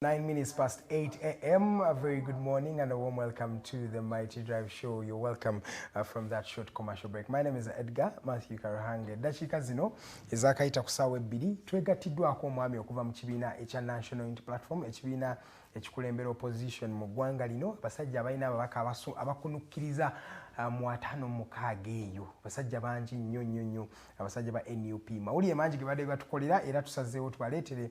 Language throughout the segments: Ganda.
Nine minutes past 8 a.m. A very good morning and a warm welcome to the Mighty Drive Show. You're welcome uh, from that short commercial break. My name is Edgar Matthew Karahange. Dakika zino ezakayita kusaawa ebbiri twegattiddwako omwami okuva mu kibiina ekya National Unity Platform ekibiina ekikulembera opposition mu ggwanga lino abasajja abalina ababaka abakunukkiriza uh, mu ataano mukaaga eyo abasajja bangi nnyo nnyo nnyo abasajja ba nup mawulire mangi ge badde batukolera era tusazeewo tubaleetere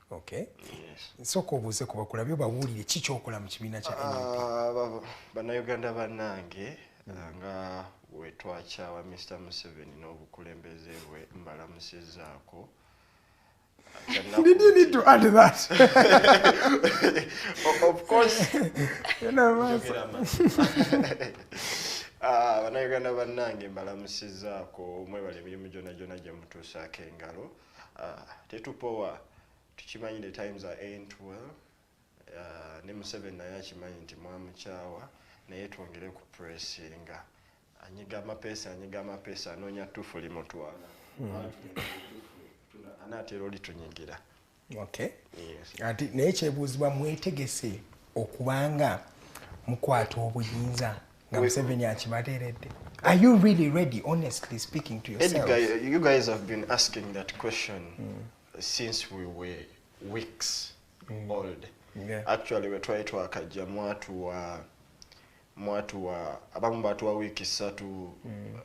Okay. Yes. Nsoko obuze kuba kulabyo bawulire ki kyokola mu kibiina kya NUP. Ah, Bannayuganda bannange mm. ah, nga wetwakyawa Mr Museveni n'obukulembeze bwe mbalamusizaako. Did you need to add that? of course. Ah, bannayuganda bannange mbalamusizaako mwebale emirimu gyona gyona gye mutuusaako engalo. Ah, tetupowa tukimanyi the times are ain't well ah, ne museveni naye akimanyi nti mwamukyawa naye twongere ku pressinga anyiga amapesa anyiga amapesa anoonya tufu limutwala hmm. anaatera olitunyigira ati naye kyebuuzibwa mwetegese okubanga mukwata obuyinza nga museveni akibateredde are you really ready honestly speaking to yourself you guys have been asking that question mm. since we were weeks mm. old yeah. actually wetwali twakajja mwatu wa mwatu wa abamu batuwa wiiki ssatu mm.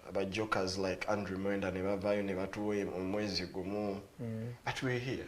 aba jokers like andrew mwenda ne bavayo ne batuwa omwezi gumu mm. but we're here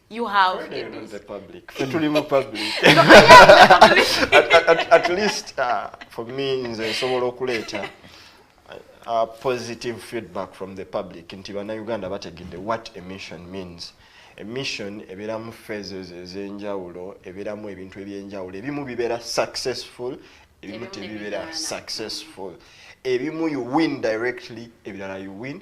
you have Friday in this. public. Ffe tuli mu public. at, at, at least uh, for me nze nsobola okuleeta uh, positive feedback from the public nti bannayuganda bategedde what a mission means emission ebeeramu phases ez'enjawulo ebeeramu ebintu eby'enjawulo ebimu bibeera successful ebimu tebibeera successful ebimu you win directly ebirala you win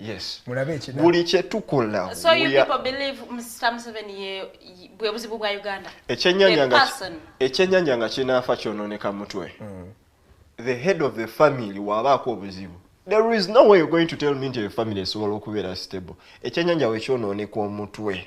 Yes. Mulabe ekidala. Buli kye tukola. So you people believe Mr. Museveni ye bwe buzibu bwa Uganda. Ekyenyanya nga ekyenyanya nga kinafa kyononeka mutwe. Mm. The head of the family waba ko buzibu. There is no way you're going to tell me into your family so okubeera stable. Ekyenyanya we kyononeka omutwe.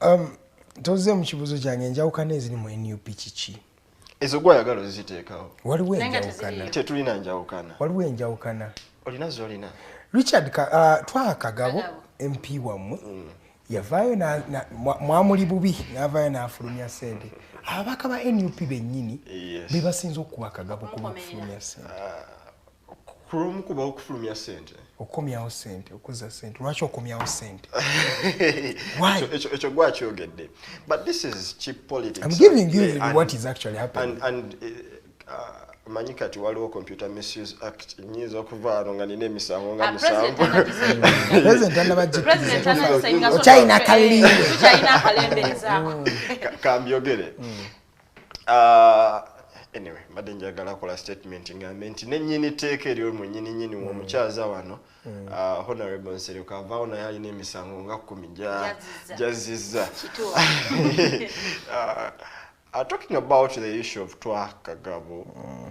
um, toze mu kibuzo kyange enjawukana eziri mu nup kiki ezo gwayagala oziteekawo waliwo enjawukana tetulina njawukana waliwo enjawukana olina zolina richard ka, uh, twaha kagabo mp wammwe mm. yavaayo mwamuli bubi navayo nafulumya sente ababaka ba nup bennyini bebasinza okukuba kagabo kuba okufulumya sente ah. kulwomukuba okufulumya sente okukomyawo sente okuzza sente lwaki okomyawo sente ekyo gwakyogedde but this is cheap politics I'm giving you and, what is actually happening and, and, eh, uh, manyi kati waliwo computer misuse act nyinza okuvaano nga nina emisango nga ah, musanvu okyayina kalimbe kambyogere mm. Ah, anyway mbadde njagala kola statement ngambe nti nenyini tteeka eryo mwenyininyini mm. womukyaza wano mm. ah, honorable nsereko avaawo naye alina emisango nga kumi jazizza ah, talking about the issue of twa kagabo mm.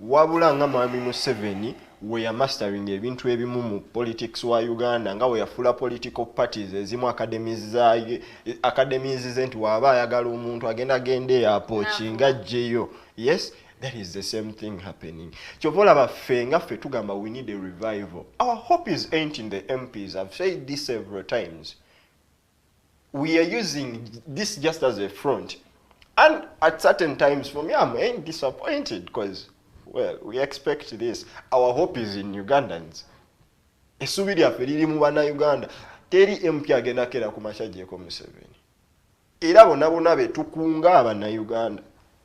Wabula nga mwami Museveni weya mastering ebintu ebimu mu politics wa Uganda nga weyafula political parties ezimu academies za academies ze nti waba ayagala omuntu agenda agenda eyapo kinga jeyo yes that is the same thing happening kyovola baffe nga ffe tugamba we need a revival our hope is ain't in the MPs I've said this several times we are using this just as a front and at certain times for me i'm ain't disappointed because well we expect this our hope is in ugandans esubi lyaffe liri mu banauganda teri empya agenda kera ku makya gyeko museveni era bona bona betukunga abanauganda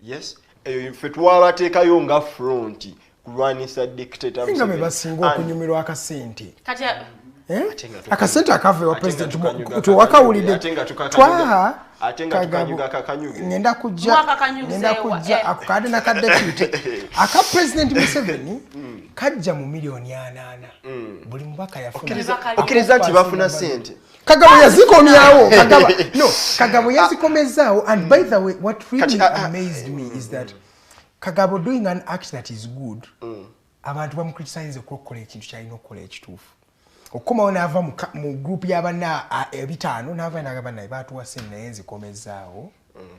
yes eyo ffe twabateekayo nga front kulwanisa dictatorsinga be basinga okunyumirwa akasente eh? akasente akava ewa president tewakawulidde twaha ngenda kujjangenda kujja eh. ako kade naka deputy aka president museveni mm. kajja mu miliyoni anaana mm. buli mubaka yafunaokkiriza nti bafuna sente kagabo yazikomyawo kagabo no kagabo yazikomezaawo and by the way what really ah, ah. amazed me is that kagabo doing an act that is good mm. abantu bamukritisaniza okukola ekintu kyalina okukola ekituufu okukomawo naava mu group yabana ebitaano naava nagamba naye batuwase naye nzikomezaawo mm.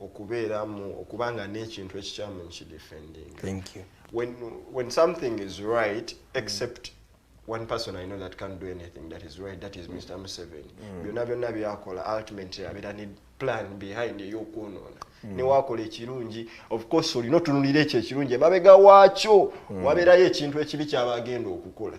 okubeeramu okuba nga n'ekintu ekikyamu nkidefending when, when something is right except mm. one person I know that can't do anything that is right, that is Mr. Museveni. Mm. Byonna byonna byakola ultimately abeera ne plan behind ey'okwonoona. Mm. Ne wakola ekirungi, of course olina otunulira ekyo ekirungi emabega waakyo mm. wabeerayo ekintu ekibi ky'aba agenda okukola.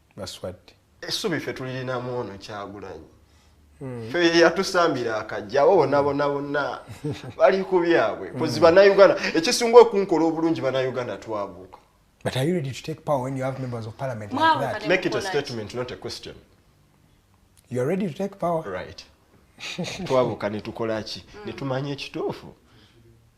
baswadde essubi ffe tulirinamu ono kyagulanyi hmm. fe yatusambira akajja abo bona bona bonna bali ku byabwe hmm. kozi banauganda ekisinga okunkola obulungi banauganda twabuuka But are you ready to take power when you have members of parliament like that? Make it a statement, not a question. You're ready to take power? Right. Twabuka netukola ki? Hmm. Netumanya ekituufu.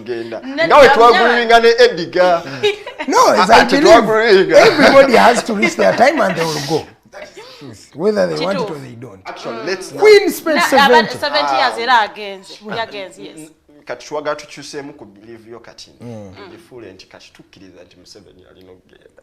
ngenda nga we twagrivinga ne ediga no as i believe everybody has to reach their time and they will go whether they want it or they don't actually mm. let's queen spent 70 70 years era agenze yagenze yes kati twagala tukyuseemu ku believe yo kati mm. tugifuule nti kati tukkiriza nti museveni alina okugenda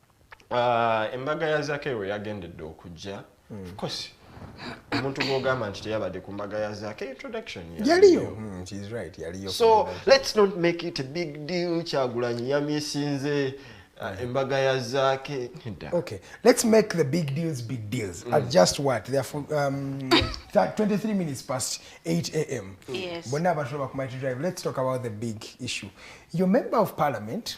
Uh, embaga ya Zake we yagendedde okujja mm. of course omuntu gwogamba nti teyabadde ku mbaga ya Zake introduction yaliyo mm, she is right yaliyo so let's not make it a big deal kyagulanyi yamisinze uh, embaga ya Zake okay let's make the big deals big deals mm. at just what they are for, um, 23 minutes past 8 a.m. Yes. Bonna abantu bakumaiti drive let's talk about the big issue your member of parliament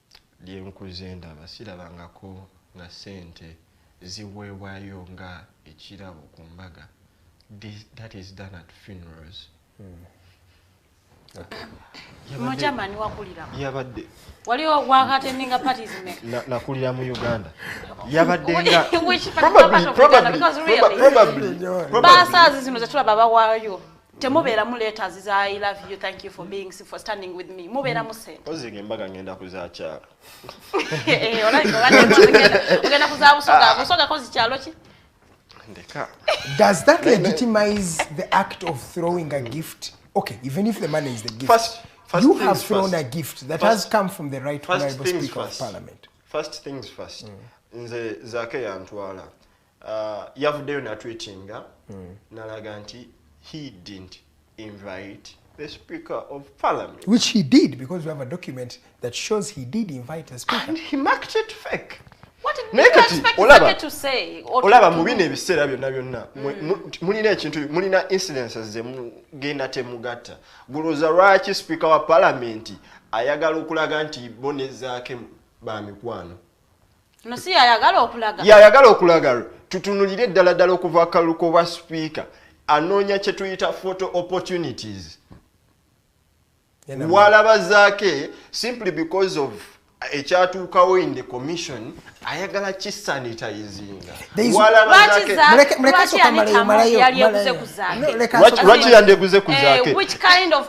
lyenkuze ndaba sirabangako nga sente ziweebwayo nga ekirabo ku mbaga that is done at funerals hmm. muchamani wakulira yabadde waliwo wakatendinga parties me nakulira mu uganda yabadde nga probably probably probably basazi zino zetulaba bawayo temubeera mu letters za i love you thank you for being for standing with me mubeera mu sente oziga embaga ngenda kuzakyala eh, ogenda kuzabusoga busoga kozi kyalo ki ndeka does that legitimize the act of throwing a gift okay even if the money is the gift first, first you have thrown first. a gift that first, has come from the right honorable speaker first. of parliament first things first mm. nze zake yantwala uh, yavuddeyo natweetinga mm. nalaga nti he didn't invite the speaker of parliament which he did because we have a document that shows he did invite the speaker and he marked it fake naye kati olaba olaba mu bino ebiseera byonna byonna mm. mulina ekintu mulina incidences zemugenda temugatta gulooza lwaki sipiika wa palamenti ayagala okulaga nti bonezaake ba mikwano no si yayagala okulaga yayagala okulaga tutunulire ddala ddala okuva akalu kobwa sipiika anoonya kye tuyita photo opportunities walaba zaake simply because of ekyatuukawo in the commission ayagala kisanitayizingalwaki yandeguze ku zaake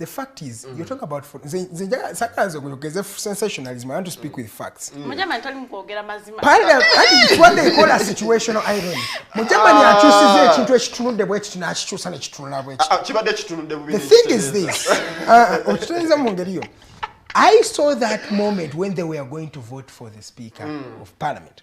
the fact is mm. you talk about for nze nze njaga sakala nze kuyogeze sensationalism i want to speak with facts mm. mujama ntali mukogera mazima pale ati what they call a situational irony mujama ni ah. achusize ekintu ekitunudde bwe kitu nakichusa ne kitunula bwe kitu kibadde ah, ah, kitunudde bubi the thing is this uh, okitunza mu ngeri yo i saw that moment when they were going to vote for the speaker mm. of parliament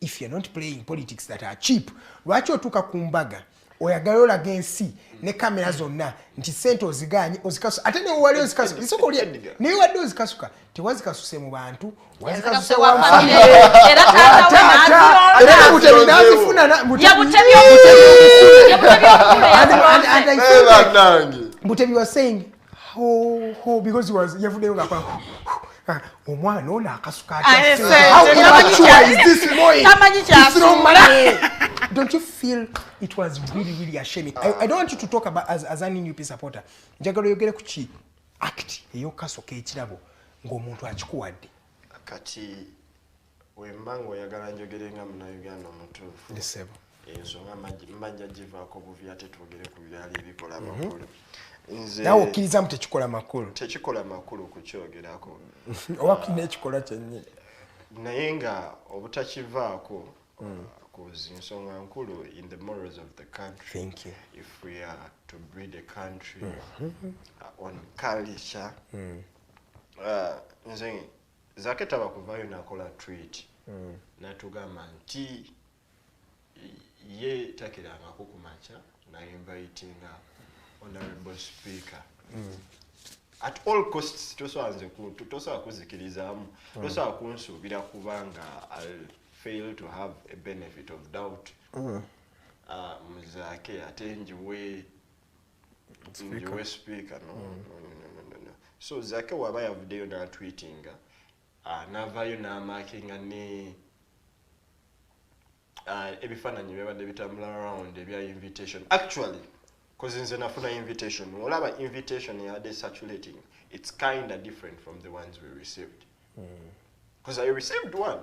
if you're not playing politics that are cheap lwaki otuuka ku mbaga oyagala olaga ensi ne kamera zonna nti sente oziganye ozikasuka ate newali ozikasuka isoko lye naye wadde ozikasuka tewazikasuse mu bantu wazikasuse wamutebiwasingi yavudeyo nga ah, omwana ono akasuka don't you feel it was really really a shame I, i don't want you to talk about as, as an nup supporter njagala oyogere ku ki act eyokasoka ekirabo ng'omuntu akikuwadde kati wemba ng'oyagala njogere nga munauganda omutuufu ndisebo ensonga mbanja givaako buvi ate twogere ku byali ebikola mhm. amakulu nawe okkirizamu tekikola makulu tekikola makulu kukyogerako oba kulina ekikolwa kyennyini naye nga obutakivaako mm. kuzi nsonga nkulu in the morals of the country Thank you. if we are to breed a country mm -hmm. uh, on culture mm. uh, nze zake taba kuvayo nakola tweet mm. natugamba nti ye takirangako ku makya nainvitinga honorable speaker mm. at all costs tosobanze tosobola kuzikirizamu mm. tosobola kunsuubira kubanga i'll fail to have a benefit of doubt mm. uh, muzake ate njiwe nyowe sipiika no mm. so zake waba yavuddeyo natwitinga ah, navayo namakinga ne ah, ebifaananyi byabadde bitambula round ebya invitation actually kozi nze nafuna invitation olaba invitation yabadde saturating it's kinda different from the ones we received mm. cause i received one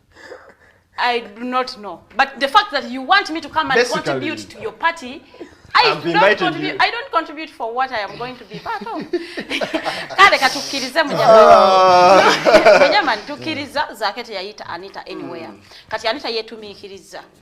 I do not know. But the fact that you want me to come and Basically, contribute to your party, I don't, contribute, I don't contribute for what I am going to be part of. Kale katukirize mujamani. Ah. Mujamani tukiriza zakete yaita Anita anywhere. Mm. Kati Anita yetumikiriza.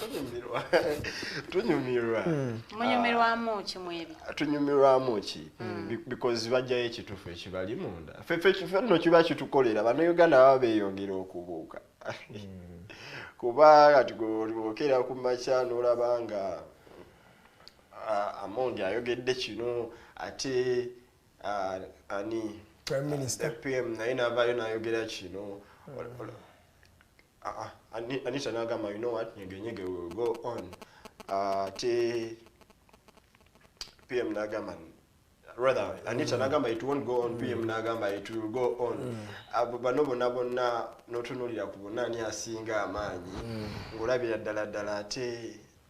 tunyumirwa tunyumirwa hmm. munyumirwamu ah. ki mwebi tunyumirwamu ki hmm. because bajjayo ekitufu ekibali munda fefefenno kiba kitukolera banauganda baba beyongera okubuuka hmm. kuba kati gokera ku makya nolaba nga ah, amondi ayogedde kino ate ah, ani pm naye navayo nayogera kino Ah, ah, Anita nagamba you know what nyege nyege we will go on ah, ate PM nagamba rather Anita mm. nagamba it won't go on PM mm. nagamba it will go on mm. abo bano bona bona notunulira ku bona ani asinga amaanyi mm. ngolabira ddala ddala ate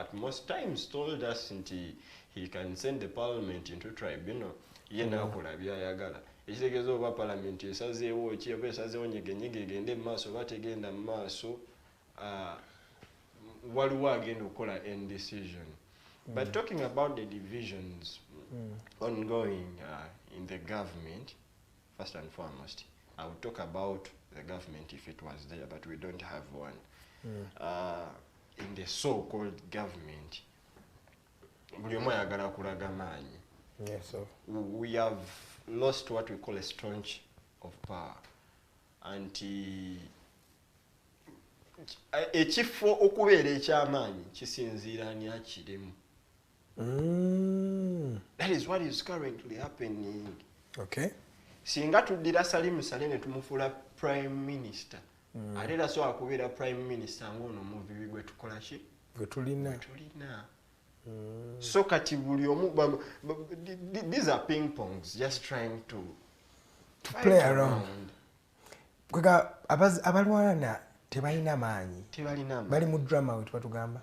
at most times told us nti he can send the parliament into tribunal ye mm. nakola byayagala ekitegeeza oba parliament esazeewo ki oba esazeewo nyegenyege egende mu maaso oba tegenda mu maaso uh, waliwo agenda okukola end decision mm. but talking about the divisions mm. ongoing uh, in the government First and foremost, I would talk about the government if it was there, but we don't have one. Mm. Uh, in the so-called government, buli omu ayagala kulaga maanyi. Yes, so. We have lost what we call a strength of power. Anti ekifo okubeera eky'amaanyi kisinziira ani akirimu. Mm. That is what is currently happening. Okay. Singa tuddira Salim Saleh ne tumufuula prime minister. Mm. Ate era sobola kubeera prime minister ng'ono omuvibi gwe tukola ki? Gwe tulina. Gwe tulina. Mm. So kati buli omu these are ping pongs just trying to to play around. Kwega abalwana tebalina maanyi. Tebalina maanyi. Bali mu drama wetu batugamba.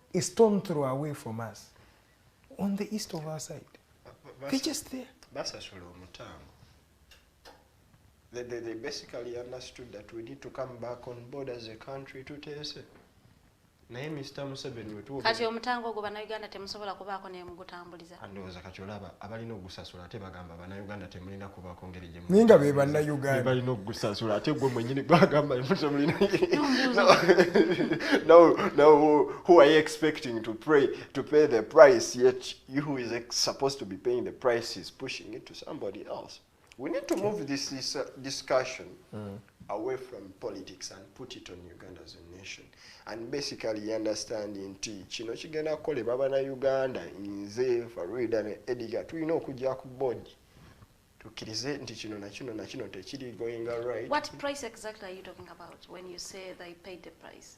a stone throw away from us on the east of our side they just there basasula omutango They, they, they basically understood that we need to come back on board as a country to test it. naye mr museveni wetuwa kati omutango ogwo bannayuganda temusobola kubaako nemugutambuliza andowooza kati olaba abalina okugusasula ate bagamba banauganda temulina kubaako ngeri gyenaye nga be banauganda balina okugusasula ate gwe mwenyini gwagamba temulina who are you expecting to pray to pay the price yet you who is supposed to be paying the price is pushing it to somebody else We need to move this, this uh, discussion mm. away from politics and put it on Uganda as a nation. And basically understand in T, chino chigena kole baba na Uganda, inze, Faruida, ne Ediga, tu ino kujia kubodi. Tu kirize nti chino na chino na chino te chidi going alright. What price exactly are you talking about when you say they paid the price?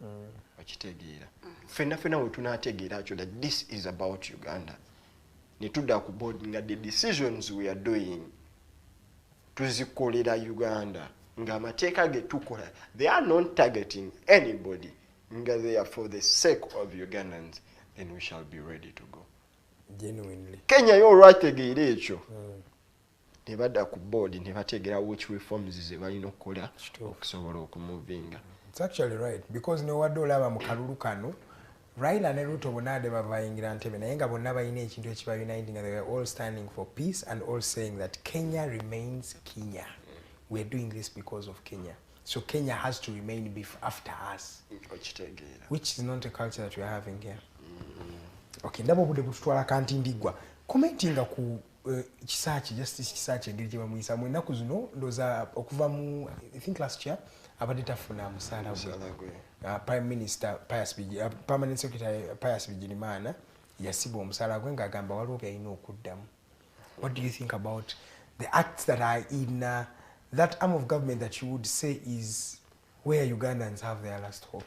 mm. okitegeera mm. fenna fenna wetunategeera kyo that this is about uganda netuda ku board nga the decisions we are doing tuzikolera uganda nga amateeka getukola they are not targeting anybody nga they are for the sake of ugandans then we shall be ready to go genuinely kenya yo olwategeera ekyo mm. nebadda ku board nebategera which reforms zebalina okukola okusobola okumuvinga its actually right because newadde olaba mu kalulu kano raila ne ruto bonna ade bavayingira ntebe naye nga bonna balina ekintu ekiba uniting they were all standing for peace and all saying that kenya remains kenya weare doing this because of kenya so kenya has to remain bef after us which is not a culture that weare having here mm-hmm. okay ndaba obude bututwala kanti ndigwa commentinga ku Eh, kisaaki justice kisaaki engeri gye bamuyisamu ennaku zino ndoza okuva mu i think last year abadde tafuna musaala gwe ah, prime minister pius ah, permanent secretary pius bigirimana yasibwa omusaala gwe ngaagamba waliwo byalina okuddamu what do you think about the acts that are in uh, that arm of government that you would say is where ugandans have their last hope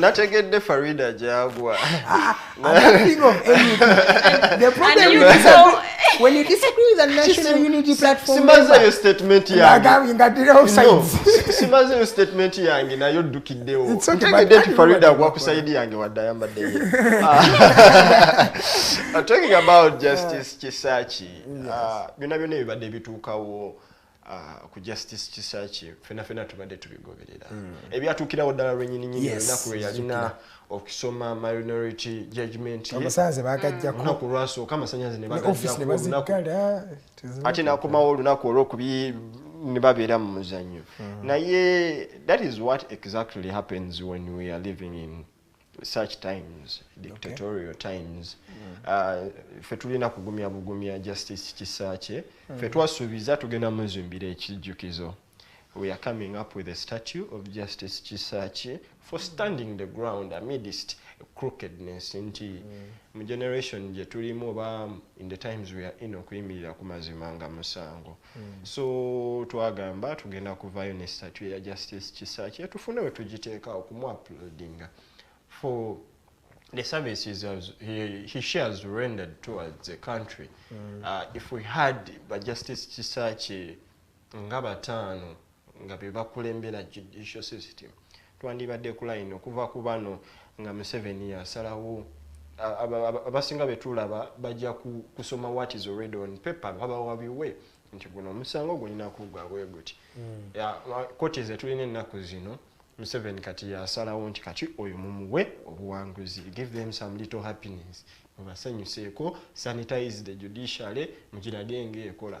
nategedde farida gyagwa ah, simazeyo statement yangesimazeyo statement yange naye oddukiddewo ntegedde nti farida agwa ku saidi yange wadde ayambaddeyo talking about justice kisaki ah, byonna byonna ebibadde bituukawo Ah, ku justice kisaki fena fena tubadde tubigoberera mm. ebyatuukirawo ddala lwenyini nyini olunaku lwe yalina okusoma minority judgment amasanze bagajjako mm. olunaku lwasooka amasanyaze ne bagajjako ate nakomawo olunaku olwokubi ne babeera mu muzannyo mm. naye that is what exactly happens when we are living in such times dictatorial okay. times mm. uh, fe tulina kugumya bugumya justice kisakye mm. fe twasuubiza tugenda muzimbira ekijjukizo we are coming up with a statue of justice kisakye for mm. standing the ground amidst crookedness nti mm. mu generation gye tulimu oba in the times we are in okuyimirira ku mazima nga musango Mm. so twagamba tugenda kuvayo ne statu eya justice kisakye tufune we tugiteekawo kumuaplodinga for the services has, he, he shares rendered towards the country mm. uh, if we had ba justice kisakye nga bataano nga bebakulembera judicial system twandibadde kulayini okuva ku bano nga museveni yasalawo abasinga betulaba bajja kusoma what is already on paper babawabiwe nti guno omusango gulina kugwa bwe guti hmm. koti ze tulina ennaku zino museveni kati yasalawo nti kati oyo mumuwe obuwanguzi give them some little happiness mubasanyuseeko sanitize the judiciary mugirage ngaekola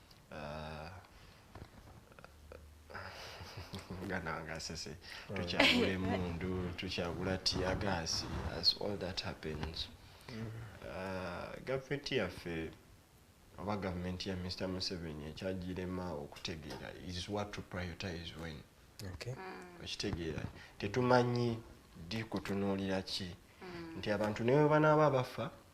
gananga sese tukyagula emundu tukyagula tiagasi as all that happens uh, gavumenti yaffe oba gavumenti ya mr museveni ekyagirema okutegeera is what to prioritize when mm. okitegeera tetumanyi di kutunuulira ki mm. nti abantu newe banaaba bafa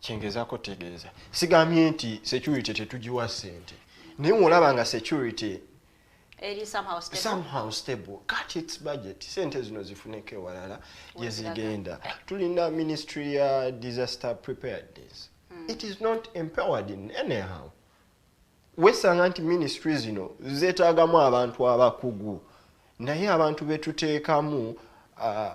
kyengezako tegeeza sigambye nti security tetugiwa sente naye olaba nga security eri somehow stable, somehow stable. cut its budget sente zino zifuneko ewalala gyezigenda tulina ministry ya disaster preparedness hmm. it is not empowered in anyhow wesanga nti ministry zino zetagamu abantu abakugu naye abantu betuteekamu uh,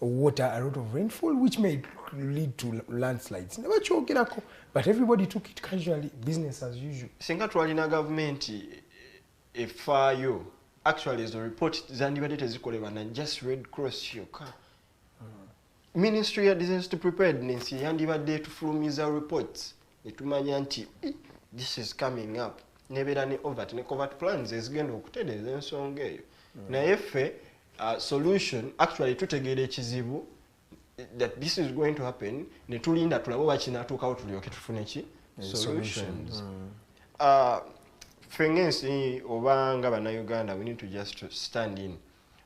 water a lot of rainfall which may lead to landslides ne bakyogerako but everybody took it casually business as usual singa twalina gavumenti efaayo actually ezo report zandibadde tezikolebwa na just red cross yokka hmm. ministry ya disaster preparedness yandibadde etufulumiza reports netumanya nti this is coming up nebeera ne overt ne covert plans ezigenda okutereeza ensonga eyo mm. naye ffe uh, solution actually tutegeera ekizibu that this is going to happen netulinda tulabe oba kinatuukawo tulyoke tufune ki eh, solutions mm. uh, ffe ngaensi oba nga bannayuganda we need to just stand in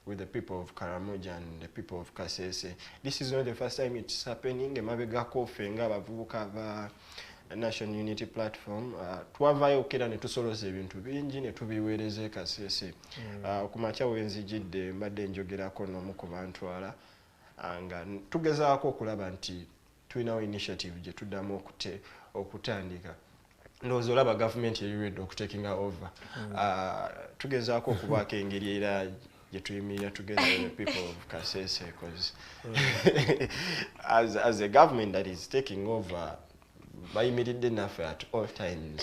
with the people of Karamoja and the people of Kasese. This is not the first time it's happening. Emabegako ffe nga abavubuka ba National Unity Platform uh, twavaayo okukera ne tusoloza ebintu bingi ne tubiweereza e Kasese. Mm. Uh, ku makya we nzijidde mbadde njogerako n'omu ku bantwala Ah, nga tugezaako okulaba nti tulinawo initiative gye tuddamu okutandika ndowooza olaba gavumenti eri redi okutakinga over hmm. ah, tugezaako okubaako engeri era gyetuyimirira together with the people of kasese bcause hmm. as, as a government that is taking over bayimiridde naffe at all times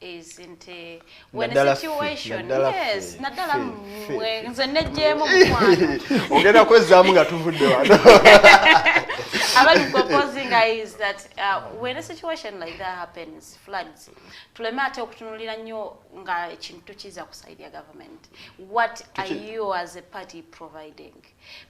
is nti eh, when a situation yes naddala mwe nze nejjeemu mukwano ogenda kwezzaamu nga tuvudde wano abali proposinga is that uh, when a situation like that happens floods tuleme ate okutunulira nnyo nga ekintu tukiza ku side ya government what are you as a party providing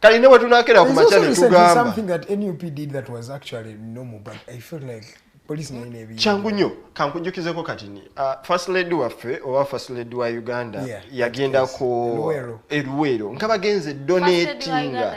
kali ne wetunakera ku makya netugamba kyangu nnyo kankujjukizeko kati ni uh, first lady waffe oba first lady wa uganda yagenda ku eruweero nga bagenze donatinga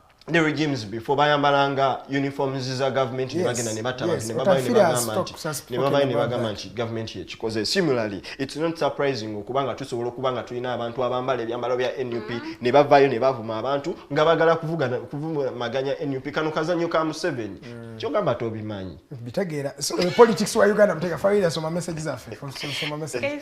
ne regimes before bayambalanga uniforms za government ne bagenda ne batta abantu ne babayo ne bagamba nti ne babayo ne bagamba nti government yekikoze similarly it's not surprising okuba nga tusobola okuba nga tulina abantu abambala ebyambalo bya nup mm-hmm. ne bavayo ne bavuma abantu nga bagala kuvugana kuvumaganya nup kano kazanyo ka museveni mm. kyogamba tobimanyi bitegeera eh, politics wa uganda mutega fayira soma message zaffe soma message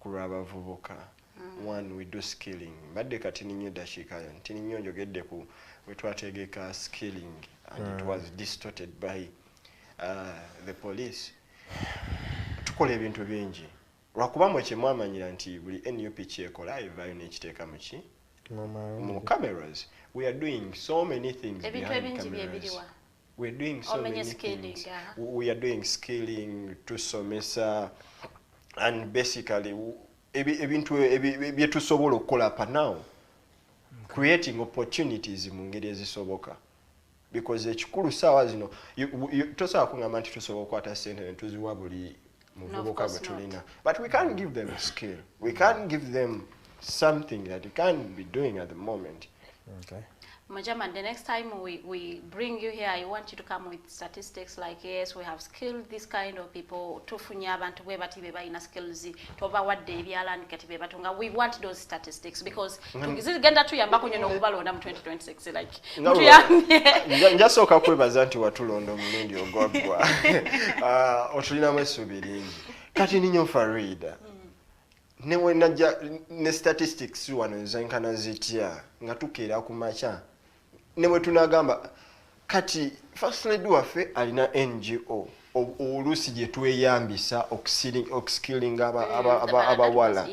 kulwabavubuka mm. one we do skilling mbadde kati ninyo dakiika yo nti ninyo njogedde ku wetwategeka skilling and mm. it hmm. was distorted by uh, the police tukola ebintu bingi lwakuba mwe kyemwamanyira nti buli nup kyekola evaayo nekiteeka muki mu cameras we are doing so many things ebintu ebingi byebiriwa we're doing so many things we are doing scaling tusomesa and basically ebintu byetusobola okukola pa now creating opportunities mu ngeri ezisoboka because ekikulu saawa zino tosobola kungamba nti tusobola okukwata sente netuziwa buli muvubuka gwe tulina but we can't give them a skill we can't give them something that you can be doing at the moment okay. Majaman, the next time we, we bring you here, I want you to come with statistics like, yes, we have skilled this kind of people, tufunye abantu bwe bati be balina skills, toba wadde ebyalani kati be batunga. We want those statistics because Mm. zigenda tuyambako nyo nokubalonda mu 2026 like njasooka kwebaza nti watulonda omulundi ogwaggwa ah, otulinamu essuubi lingi kati ninyo farida mm. newenajja ne statistics wano zenkana zitya nga tukeera ku makya ne bwe tunagamba kati first lady waffe alina ngo oluusi gye tweyambisa okuskillinga eh, abawala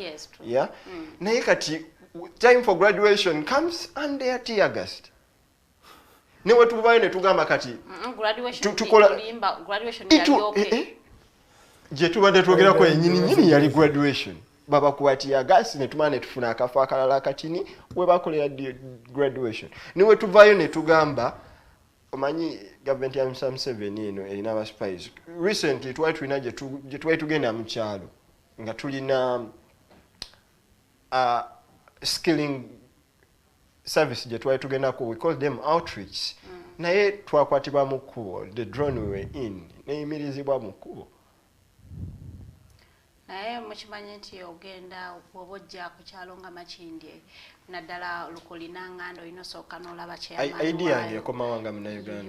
ya mm. naye kati time for graduation comes and they are teargast ne wetubayo ne tugamba kati mm, mm, tukola eh, eh. gyetubadde twogerako yenyini nyini yali graduation babakuba tiyagasi netumala netufuna akafo akalala akatini webakolera graduation niwetuvayo netugamba omanyi gavumenti ya msa museveni eno erina abaspice recently twali tulina gyetwali tugenda mukyalo nga tulina uh, skilling service gye twali tugendako we call them outreach mm. naye twakwatibwa mu kkubo the drone we were in neyimirizibwa mu kkubo naye mukimanyi nti ogenda oba ojja ku kyalo nga makindye naddala lukulina nganda olina osooka n'olaba kyeidia yange ekomawa nga munauganda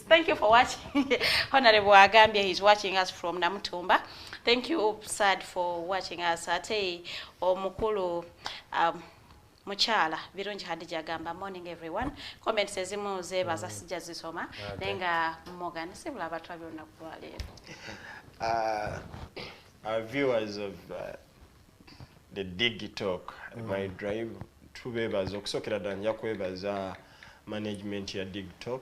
Thank you for watching. Honorable Agambia is watching us from Namutumba. Thank you, Sad, for watching us. Ate omukulu um, mukyala birungi hadija agamba morning everyone comments ezimu zebaza mm. sijja zisoma naye nga morgan sibula abatwa byonna kulwaleero uh, our viewers of uh, the digitalk mm. my drive tubebaza okusookera ddala nja kwebaza management ya digitalk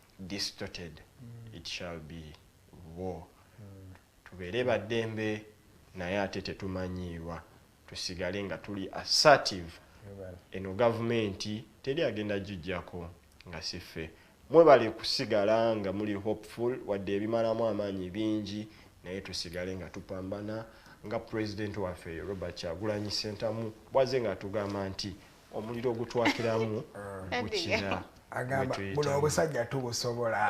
distorted it shall be war tubeere baddembe naye ate tetumanyiirwa tusigale nga tuli assertive eno gavumenti teri agenda gijjako nga siffe mwebale kusigala nga muli hopeful wadde ebimalamu amaanyi bingi naye tusigale nga tupambana nga president waffe robert kyagulanyi sentamu bwaze nga atugamba nti omuliro ogutwakiramu gukira agamba buno obusajja tubusobola